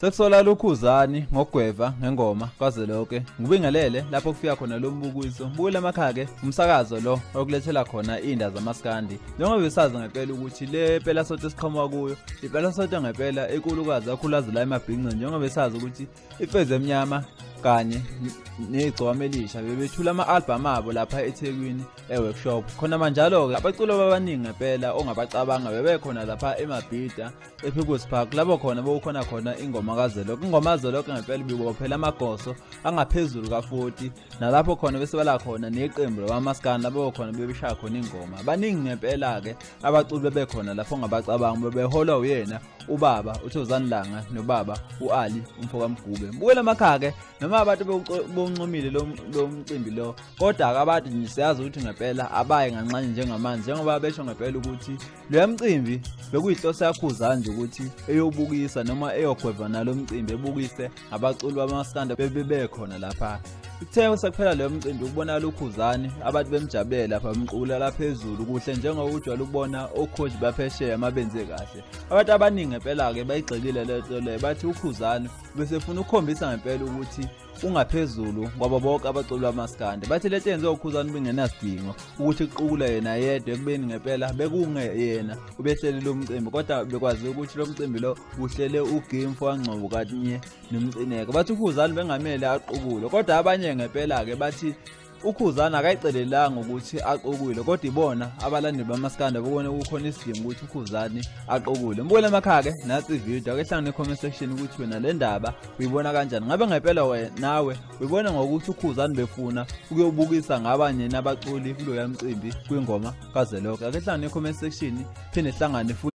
Sekusola lokhuzani ngogweva ngengoma kwaze lonke. Ngibingelele lapho kufika khona lo mbukiso. Mbukile amakhaya ke umsakazo lo okulethela khona inda zamaskandi. Njengoba besazi ngempela ukuthi le pela sote siqhamuka kuyo. Impela sote ngempela ekulukazi akhulazi la emabhinqini njengoba besazi ukuthi icwezi emnyama kanye negcwama elisha bebethula ama-albham abo lapha ethekwini e-workshop khona manjalo-ke abaculo babaningi ngempela ongabacabanga bebekhona lapha emabhida e-peoples park labo khona bekukhona khona ingoma kazeloke ingoma kazeloke ngempela bibophela amagoso angaphezulu ka-40 nalapho khona bese bala khona neqembu labamaskani labo khona bebeshaya khona ingoma baningi ngempela-ke abaculi bebekhona lapho ongabacabanga bebeholwa uyena ubaba uthozani langa nobaba u-ali umfo kamgube ngibukele amakhake noma abantu bewuncomile lo mcimbi lo kodwa akabade nje siyazi ukuthi ngempela abaye nganxanye njengamanje njengoba besho ngempela ukuthi loya mcimbi bekuyihloso yakhuzani nje ukuthi eyobukisa noma eyogweva nalo mcimbi ebukise abaculi bamaskanda bebebekhona lapha Kuthe usakuphela leyo mcimbi ukubona lukhuzani abantu bemjabulela lapha bemqulala phezulu kuhle njengokujwayele ukubona okhoji baphesheya mabenze kahle abantu abaningi ngempela-ke bayigxekile le nto leyo bathi ukhuzani besefuna ukukhombisa ngempela ukuthi ungaphezulu ngoba bonke abaculi bamaskande bathi lento yenziwa ukhuzani bengenasidingo ukuthi kuqukula yena yedwa ekubeni ngempela bekungeyena ubehlele lo mcimbi kodwa bekwazi ukuthi lo mcimbi lo uhlele ugame fowangcobo katinye nomcineka bathi ukhuzani bengamele aqukule kodwa abanye ngempela-ke bathi ukhuzana akayicelelanga ukuthi aqokule kodwa ibona abalandeli bamaskanda bokone kukhona isidingo ukuthi ukhuzani aqokule mbukele emakhake nathi ivideo ake hlangane comment section ukuthi wena le ndaba uyibona kanjani ngabe ngempela wena nawe uyibona ngokuthi ukhuzani befuna ukuyobukisa ngabanye nabaculi kuloya mcimbi kwingoma kazwelonke ake hlangane comment section phinde hlangane futhi